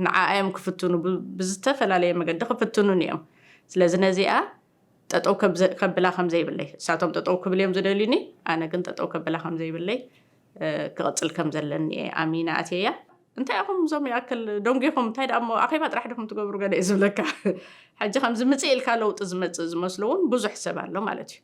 ንዓኣ እዮም ክፍትኑ ብዝተፈላለየ መገዲ ክፍትኑኒ እዮም ስለዚ ነዚኣ ጠጠው ከብላ ከምዘይብለይ እሳቶም ጠጠው ክብል እዮም ዝደልዩኒ ኣነ ግን ጠጠው ከብላ ከምዘይብለይ ክቕፅል ከም ዘለኒ እየ ኣሚና ኣትየያ እንታይ ኢኹም እዞም ይኣክል ደንጒኹም እንታይ ደኣ እሞ ኣኼባ ጥራሕ ድኹም ትገብሩ ገለ እዩ ዝብለካ ሕጂ ከምዚ ምፅእ ኢልካ ለውጢ ዝመፅእ ዝመስሎ እውን ብዙሕ ሰብ ኣሎ ማለት እዩ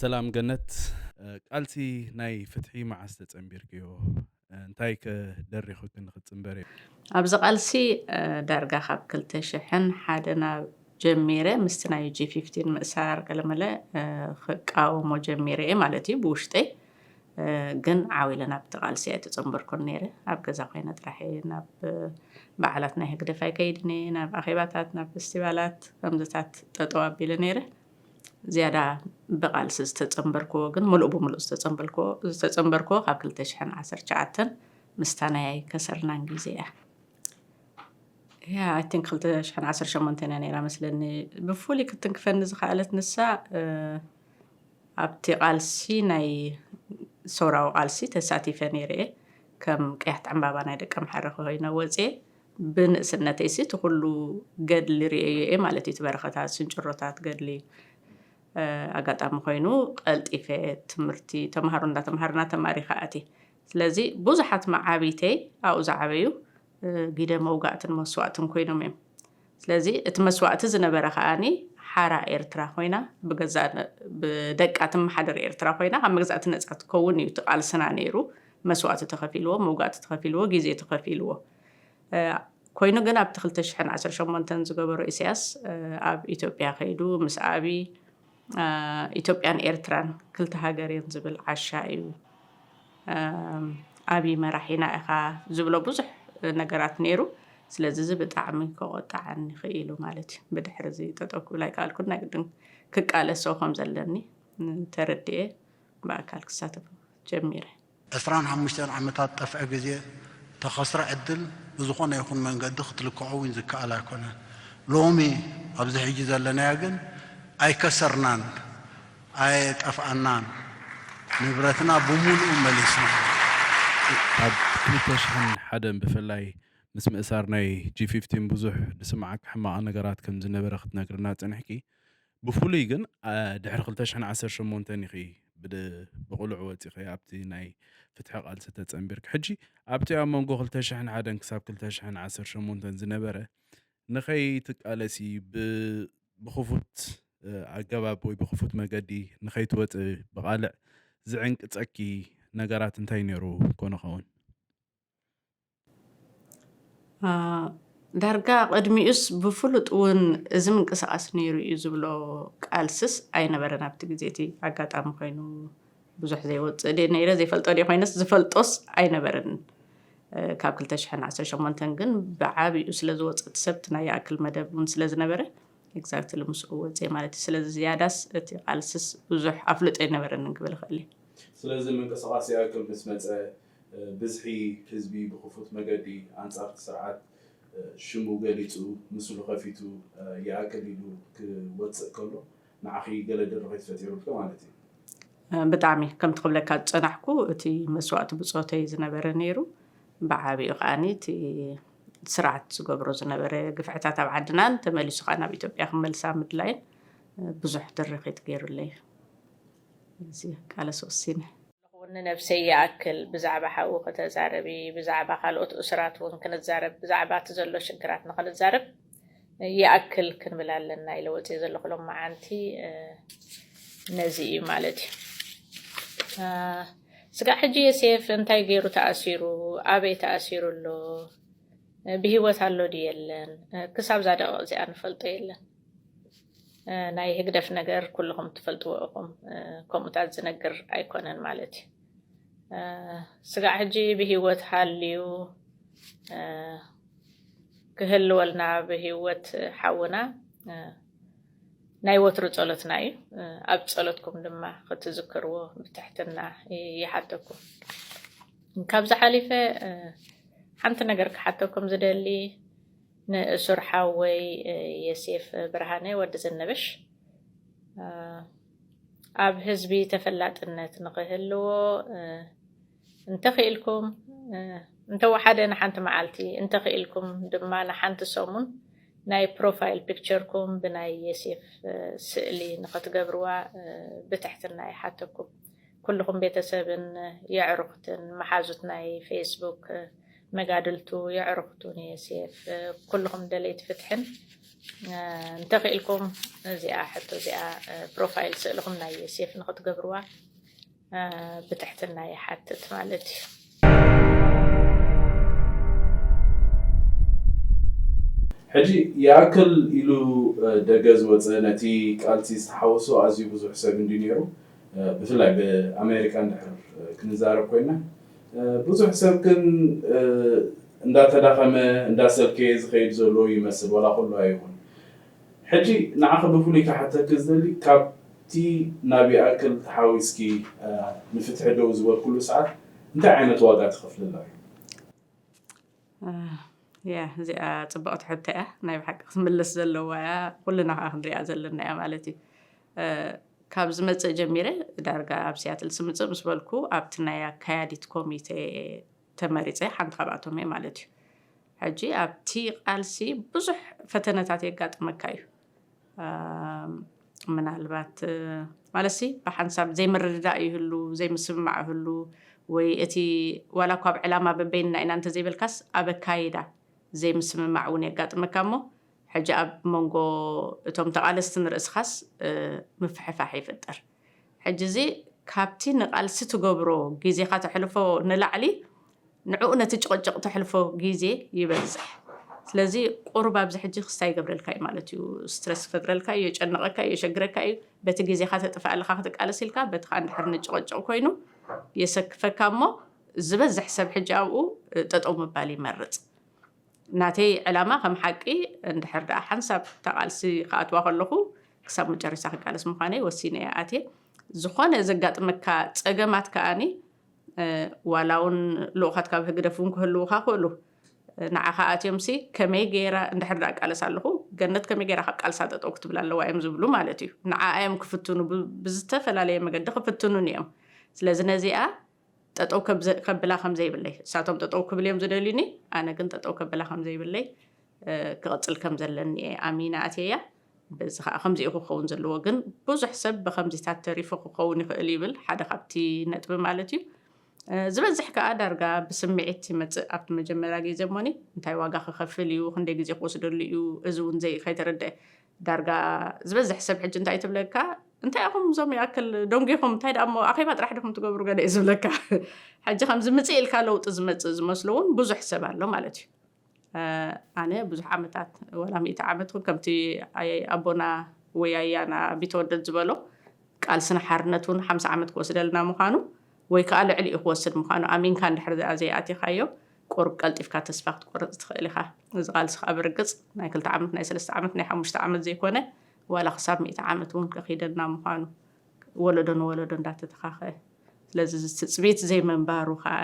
ሰላም ገነት ቃልሲ ናይ ፍትሒ መዓስ ተጸንቢርክዮ እንታይ ከ ደሪኹኪ ንክትጽንበሪ? ኣብዚ ቃልሲ ዳርጋ ካብ ክልተ ሽሕን ሓደን ጀሚረ ምስቲ ናይ ጂ ፊፍቲን ምእሳር ገለመለ ክቃወሞ ጀሚረ እየ ማለት እዩ ብውሽጠይ ግን ዓው ኢለ ናብቲ ቃልሲ ኣይተጸንበርኩን ነይረ ኣብ ገዛ ኮይነ ጥራሕ እየ ናብ በዓላት ናይ ህግደፍ ኣይከይድን እየ ናብ ኣኼባታት ናብ ፌስቲቫላት ከምዚታት ጠጠው ኣቢለ ነይረ ዝያዳ ብቓልሲ ዝተጸምበርክዎ ግን ምሉእ ብምሉእ ዝተጸምበልክዎ ዝተጸምበርክዎ ካብ ክልተ ሽሕን ዓሰርተ ትሽዓተን ምስታ ናይ ከሰርናን ግዜ እያ ያ ኣይ ቲንክ ክልተ ሽሕን ዓሰርተ ሸሞንተን እያ ነይራ መስለኒ ብፍሉይ ክትንክፈኒ ዝኸኣለት ንሳ ኣብቲ ቃልሲ ናይ ሰውራዊ ቃልሲ ተሳቲፈ ነይረ እየ ከም ቀያሕቲ ዕምባባ ናይ ደቂ ኣምሓረ ኮይነ ወፅየ ብንእስነተይሲ እቲ ኩሉ ገድሊ ርእየዮ እየ ማለት እዩ፣ እቲ በረኸታት ስንጭሮታት ገድሊ። ኣጋጣሚ ኮይኑ ቀልጢፈ ትምህርቲ ተምሃሮ እንዳተምሃርና ተማሪኸ ኣትየ። ስለዚ ብዙሓት መዓብይተይ ኣብኡ ዝዓበዩ ግደ መውጋእትን መስዋእትን ኮይኖም እዮም። ስለዚ እቲ መስዋእቲ ዝነበረ ከኣ ሓራ ኤርትራ ኮይና ብደቃ ትመሓደር ኤርትራ ኮይና ካብ መግዛእቲ ነጻ ትከውን እዩ እቲ ቃልስና ነይሩ። መስዋእቲ ተኸፊልዎ፣ መውጋእቲ ተኸፊልዎ፣ ግዜ ተኸፊልዎ። ኮይኑ ግን ኣብቲ ክልተ ሽሕን ዓሰርተ ሸሞንተን ዝገበሮ ኢሳያስ ኣብ ኢትዮጵያ ከይዱ ምስ ኣብይ ኢትዮጵያን ኤርትራን ክልተ ሃገር እየን ዝብል ዓሻ እዩ ኣብይ መራሒና ኢኻ ዝብሎ ብዙሕ ነገራት ነይሩ ስለዚ እዚ ብጣዕሚ ከቆጣዓኒ ክኢሉ ማለት እዩ ብድሕሪ እዚ ጠጠው ክብል ኣይከኣልኩን ናይ ግድን ክቃለሶ ከም ዘለኒ ተረድኤ ብኣካል ክሳተፍ ጀሚረ ዕስራን ሓሙሽተን ዓመታት ጠፍዐ ግዜ፣ ተኸስረ ዕድል ብዝኾነ ይኹን መንገዲ ክትልክዖ ውን ዝከኣል ኣይኮነን። ሎሚ ኣብዚ ሕጂ ዘለናዮ ግን ኣይከሰርናን ኣየጠፍኣናን ንብረትና ብሙሉኡ መሊስና ኢና። ኣብ ክልተ ሽሕን ሓደን ብፍላይ ምስ ምእሳር ናይ ጂ ፊፍቲን ብዙሕ ዝስምዓኪ ሕማቕ ነገራት ከም ዝነበረ ክትነግርና ጸኒሕኪ። ብፍሉይ ግን ድሕሪ ክልተ ሽሕን ዓሰርተ ሸሞንተን ኢኺ ብቕልዑ ወፂኺ ኣብቲ ናይ ፍትሒ ቃልሲ ተፀንቢርኪ ሕጂ ኣብቲ ኣብ መንጎ ክልተ ሽሕን ሓደን ክሳብ ክልተ ሽሕን ዓሰርተ ሸሞንተን ዝነበረ ንኸይትቃለሲ ብክፉት ኣገባብ ወይ ብክፉት መገዲ ንኸይትወፅ ብቓልዕ ዝዕንቅፀኪ ነገራት እንታይ ነይሩ ኮነ ኸውን? ዳርጋ ቅድሚኡስ ብፍሉጥ እውን እዚ ምንቅስቓስ ነይሩ እዩ ዝብሎ ቃልስስ ኣይነበረን ኣብቲ ግዜ እቲ ኣጋጣሚ ኮይኑ ብዙሕ ዘይወፅእ ድየ ነይረ ዘይፈልጦ ድየ ኮይነስ ዝፈልጦስ ኣይነበረን ካብ 218 ግን ብዓብኡ ስለ ዝወፀ እቲ ሰብ እቲ ናይ ይኣክል መደብ እውን ስለ ዝነበረ ኤግዛክትሊ ምስኡ ወፀ ማለት እዩ ስለዚ ዝያዳስ እቲ ቃልስስ ብዙሕ ኣፍልጦ ኣይነበረንን ክብል እኽእል እየ ስለዚ ምንቅስቓስ ይኣክል ምስ መፀ ብዝሒ ህዝቢ ብክፉት መገዲ ኣንጻር እቲ ስርዓት ሽሙ ገሊጹ ምስሉ ከፊቱ ይኣክል ኢሉ ክወጽእ ከሎ ንዓኺ ገለ ድርኺት ፈጢሩልኪ ማለት እዩ። ብጣዕሚ ከምቲ ክብለካ ዝጸናሕኩ እቲ መስዋእቲ ብጾተይ ዝነበረ ነይሩ ብዓቢኡ ከኣ እቲ ስርዓት ዝገብሮ ዝነበረ ግፍዕታት ኣብ ዓድናን ተመሊሱ ከኣ ናብ ኢትዮጵያ ክመልሳ ምድላይን ብዙሕ ድርኺት ገይሩለይ እዩ። እዚ ቃለስ ወሲነ። ይኹን ንነብሰይ ይኣክል ብዛዕባ ሓው ከተዛርቢ ብዛዕባ ካልኦት እሱራት እውን ክንዛረብ ብዛዕባ እቲ ዘሎ ሽግራት ንኽንዛረብ ይኣክል ክንብል ኣለና ኢለ ወፅየ ዘለኹ ሎማዓንቲ ነዚ እዩ ማለት እዩ ስጋዕ ሕጂ የሴፍ እንታይ ገይሩ ተኣሲሩ ኣበይ ተኣሲሩ ኣሎ ብሂወት ኣሎ ድዩ የለን ክሳብዛ ደቕቕ እዚኣ ንፈልጦ የለን ናይ ህግደፍ ነገር ኩልኹም ትፈልጥዎ ኢኹም ከምኡታት ዝነግር ኣይኮነን ማለት እዩ ስጋዕ ሕጂ ብሂወት ሃልዩ ክህልወልና ብሂወት ሓውና ናይ ወትሩ ጸሎትና እዩ ኣብ ጸሎትኩም ድማ ክትዝክርዎ ብትሕትና ይሓተኩም ካብዚ ሓሊፈ ሓንቲ ነገር ክሓተኩም ዝደሊ ንእሱር ሓወይ የሴፍ ብርሃነ ወዲ ዝንብሽ ኣብ ህዝቢ ተፈላጥነት ንኽህልዎ እንተኽኢልኩም እንተወሓደ ንሓንቲ መዓልቲ እንተኽኢልኩም ድማ ንሓንቲ ሰሙን ናይ ፕሮፋይል ፒክቸርኩም ብናይ የሴፍ ስእሊ ንኽትገብርዋ ብትሕትና ይሓተኩም። ኩሉኹም ቤተሰብን የዕሩኽትን መሓዙት ናይ ፌስቡክ መጋድልቱ የዕሩኽቱ ንየሴፍ ኩሉኹም ደለይቲ ፍትሕን እንተኺእልኩም እዚኣ ሕቶ እዚኣ ፕሮፋይል ስእልኹም ናይ የሴፍ ንኽትገብርዋ ብትሕትና ይሓትት ማለት እዩ። ሕጂ ይኣክል ኢሉ ደገ ዝወጸ ነቲ ቃልሲ ዝተሓወሶ ኣዝዩ ብዙሕ ሰብ እንድዩ ነይሩ። ብፍላይ ብኣሜሪካ እንድሕር ክንዛረብ ኮይና ብዙሕ ሰብ ግን እንዳተዳኸመ እንዳሰልከየ ዝኸይድ ዘሎ ይመስል ዋላ ኩሉ ኣይኹን ሕጂ ንዓኺ ብፍሉይ ክሓተኪ ዝደሊ ካብቲ ናብ ይኣክል ተሓዊስኪ ንፍትሒ ደው ዝበልክሉ ሰዓት እንታይ ዓይነት ዋጋ ትኸፍልላ? ያህ እዚኣ ፅብቕቲ ሕቶ እያ ናይ ብሓቂ ክትምለስ ዘለዋ እያ ኩልና ከዓ ክንሪኣ ዘለና እያ ማለት እዩ ካብ ዝመፅእ ጀሚረ ዳርጋ ኣብ ሲያትል ስምፅእ ምስ በልኩ ኣብቲ ናይ ኣካያዲት ኮሚቴ ተመሪፀ ሓንቲ ካብኣቶም እየ ማለት እዩ ሕጂ ኣብቲ ቃልሲ ብዙሕ ፈተነታት የጋጥመካ እዩ ምናልባት ማለትሲ ብሓንሳብ ዘይምርድዳእ ይህሉ ዘይምስምማዕ ይህሉ ወይ እቲ ዋላ እኳ ኣብ ዕላማ በበይንና ኢና እንተዘይበልካስ ኣብ ኣካይዳ ዘይምስምማዕ እውን የጋጥመካ እሞ ሕጂ ኣብ መንጎ እቶም ተቓለስቲ ንርእስኻስ ምፍሕፋሕ ይፍጠር። ሕጂ እዚ ካብቲ ንቓልሲ ትገብሮ ግዜኻ ተሕልፎ ንላዕሊ ንዕኡ ነቲ ጭቕጭቕ ተሕልፎ ግዜ ይበዝሕ ስለዚ ቁሩብ ኣብዚ ሕጂ ክስታይ ይገብረልካ እዩ ማለት እዩ ስትረስ ይፈጥረልካ እዩ የጨንቐካ እዩ የሸግረካ እዩ በቲ ግዜኻ ተጥፍእ ኣለኻ ክትቃለስ ኢልካ በቲ ከዓ እንድሕር ንጭቕጭቕ ኮይኑ የሰክፈካ እሞ ዝበዝሕ ሰብ ሕጂ ኣብኡ ጠጠው ምባል ይመርጽ ናተይ ዕላማ ከም ሓቂ እንድሕር ደኣ ሓንሳብ እታ ቃልሲ ክኣትዋ ከለኹ ክሳብ መጨረሻ ክቃለስ ምዃነይ ወሲነ እየ ኣትየ። ዝኾነ ዘጋጥመካ ጸገማት ከኣ ዋላ እውን ልኡኻት ካብ ህግደፍ እውን ክህልዉኻ ክእሉ ንዓኻ ኣትዮምሲ ከመይ ገይራ እንድሕር ደኣ ቃለሳ ኣለኹ ገነት ከመይ ገይራ ካብ ቃልሳ ጠጠው ክትብል ኣለዋ እዮም ዝብሉ ማለት እዩ። ንዓኣ እዮም ክፍትኑ ብዝተፈላለየ መገዲ ክፍትኑን እዮም። ስለዚ ነዚኣ ጠጠው ከብላ ከምዘይብለይ እሳቶም ጠጠው ክብል እዮም ዝደልዩኒ ኣነ ግን ጠጠው ከብላ ከምዘይብለይ ክቕፅል ከም ዘለኒ እየ ኣሚነ ኣትየያ በዚ ከዓ ከምዚ እዩ ክኸውን ዘለዎ ግን ብዙሕ ሰብ ብከምዚታት ተሪፉ ክኸውን ይኽእል ይብል ሓደ ካብቲ ነጥቢ ማለት እዩ ዝበዝሕ ከዓ ዳርጋ ብስምዒት ይመፅእ ኣብቲ መጀመርያ ግዜ እሞኒ እንታይ ዋጋ ክኸፍል እዩ ክንደይ ግዜ ክወስደሉ እዩ እዚ እውን ዘይ ከይተረድአ ዳርጋ ዝበዝሕ ሰብ ሕጂ እንታይ ትብለካ እንታይ ኢኹም እዞም ይኣክል ደንጒኹም እንታይ ደኣ እሞ ኣኼባ ጥራሕ ድኹም ትገብሩ ገለ እዩ ዝብለካ ሕጂ ከምዚ ምፅእ ኢልካ ለውጢ ዝመፅእ ዝመስሎ እውን ብዙሕ ሰብ ኣሎ ማለት እዩ ኣነ ብዙሕ ዓመታት ወላ ሚእቲ ዓመት ውን ከምቲ ኣቦና ወይ ኣያና ቢተወደድ ዝበሎ ቃልስና ሓርነት ውን ሓምሳ ዓመት ክወስደልና ምዃኑ ወይ ከዓ ልዕሊ እዩ ክወስድ ምዃኑ ኣሚንካ እንድሕር ዘይኣቲኻዮ ቁሩብ ቀልጢፍካ ተስፋ ክትቆርጽ ትኽእል ኢኻ። እዚ ቃልሲ ከኣ ብርግጽ ናይ ክልተ ዓመት፣ ናይ ሰለስተ ዓመት፣ ናይ ሓሙሽተ ዓመት ዘይኮነ ዋላ ክሳብ ሚእቲ ዓመት እውን ከኺደና ምዃኑ ወለዶ ንወለዶ እንዳተተኻኸ ስለዚ እዚ ትጽቢት ዘይምንባሩ ከኣ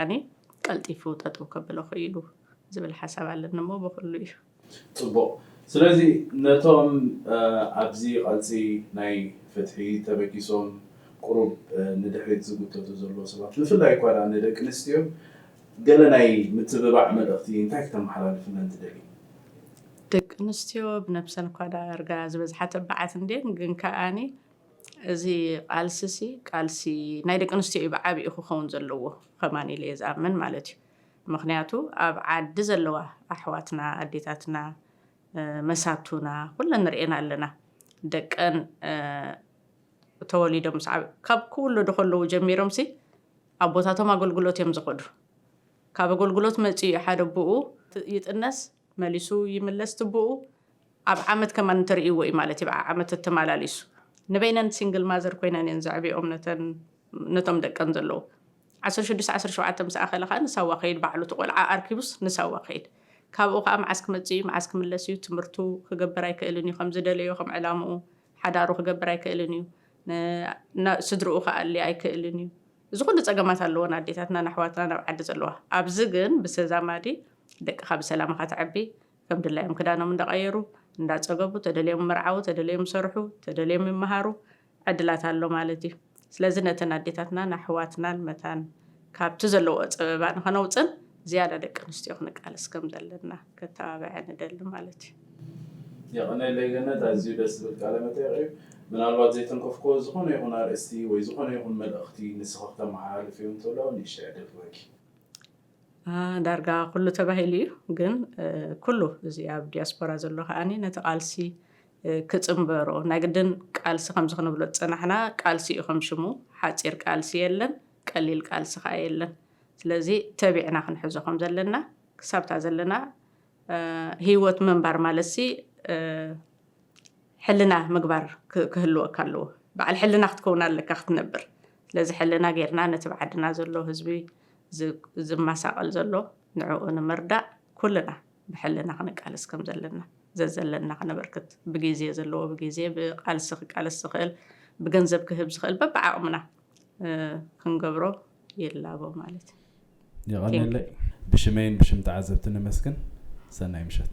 ቀልጢፉ ጠጠው ከብሎ ክኢሉ ዝብል ሓሳብ ኣለኒ እሞ ብኹሉ እዩ። ጽቡቕ ስለዚ ነቶም ኣብዚ ቃልሲ ናይ ፍትሒ ተበጊሶም ቁሩብ ንድሕሪት ዝጉተቱ ዘለዉ ሰባት ብፍላይ እኳ ድኣ ንደቂ ኣንስትዮ ገለ ናይ ምትብባዕ መልእኽቲ እንታይ ክተመሓላልፍለን ትደልዪ? ደቂ ኣንስትዮ ብነብሰን እኳ ድኣ እርጋ ዝበዝሓ ተባዓት እንድየን ግን ከኣኒ እዚ ቃልሲ'ሲ ቃልሲ ናይ ደቂ ኣንስትዮ እዩ ብዓቢኡ ክኸውን ዘለዎ ከማን ኢለ እየ ዝኣምን ማለት እዩ። ምኽንያቱ ኣብ ዓዲ ዘለዋ ኣሕዋትና ኣዴታትና መሳቱና ኩለን ርኤና ኣለና ደቀን ተወሊዶም ምስ ዓበ ካብ ክውለዱ ከለዉ ጀሚሮምሲ ኣቦታቶም ኣገልግሎት እዮም ዝኸዱ ካብ ኣገልግሎት መጺኡ ሓደ ኣቡኡ ይጥነስ መሊሱ ይምለስ ትቡኡ ኣብ ዓመት ከማን እንተርእይዎ እዩ ማለት እዩ ዓዓመት ተማላሊሱ ንበይነን ሲንግል ማዘር ኮይነን እየን ዘዕብየኦም ነተን ነቶም ደቀን ዘለዉ ዓሰርተ ሽዱሽተ ዓሰርተ ሸውዓተ ምስ ኣኸለ ከዓ ንሳዋ ከይድ ባዕሉ እቲ ቆልዓ ኣርኪቡስ ንሳዋ ከይድ ካብኡ ከዓ መዓስ ክመፅእ እዩ መዓስ ክምለስ እዩ ትምህርቱ ክገብር ኣይክእልን እዩ ከም ዝደለዮ ከም ዕላምኡ ሓዳሩ ክገብር ኣይክእልን እዩ ስድርኡ ክኣሊ ኣይክእልን እዩ እዚ ኩሉ ፀገማት ኣለዎን ኣዴታትና ንኣሕዋትና ናብ ዓዲ ዘለዋ ኣብዚ ግን ብተዛማዲ ደቅኻ ብሰላም እኻ ተዕቢ ከም ድላዮም ክዳኖም እንዳቀየሩ እንዳጸገቡ ተደልዮም ምርዓዉ ተደለዮም ይሰርሑ ተደልዮም ይመሃሩ ዕድላት ኣሎ ማለት እዩ ስለዚ ነተን ኣዴታትናን ኣሕዋትናን መታን ካብቲ ዘለዎ ጸበባ ንኸነውጽን ዝያዳ ደቂ ኣንስትዮ ክንቃለስ ከም ዘለና ከተባብዐ ንደሊ ማለት እዩ። የቐኔለይ ገነት ኣዝዩ ደስ ዝብል ቃለ መጠይቕ እዩ። ምናልባት ዘይተንከፍክዎ ዝኾነ ይኹን ኣርእስቲ ወይ ዝኾነ ይኹን መልእኽቲ ንስኺ ክተመሓላልፍዮ እንተሎ ንእሽተይ ዕድል ክህበኪ። ዳርጋ ኩሉ ተባሂሉ እዩ ግን ኩሉ እዚ ኣብ ዲያስፖራ ዘሎ ከዓ ነቲ ቃልሲ ክፅምበሮ ናይ ግድን ቃልሲ ከምዚ ክንብሎ ዝፀናሕና ቃልሲ እዩ ከም ሽሙ ሓፂር ቃልሲ የለን ቀሊል ቃልሲ ከዓ የለን ስለዚ ተቢዕና ክንሕዞ ከም ዘለና ክሳብታ ዘለና ሂወት ምንባር ማለትሲ ሕልና ምግባር ክህልወካ ኣለዎ በዓል ሕልና ክትከውን ኣለካ ክትነብር ስለዚ ሕልና ጌርና ነቲ ብዓድና ዘሎ ህዝቢ ዝማሳቐል ዘሎ ንዕኡ ንምርዳእ ኩልና ብሕልና ክንቃለስ ከም ዘለና ዘዘለና ክነበርክት ብጊዜ ዘለዎ ብጊዜ ብቓልሲ ክቃለስ ዝኽእል ብገንዘብ ክህብ ዝኽእል በብዓቕምና ክንገብሮ ይላቦ ማለት እዩ። የቐኔለይ ብሽመይን ብሽም ተዓዘብቲ ነመስግን ሰናይ ምሸት።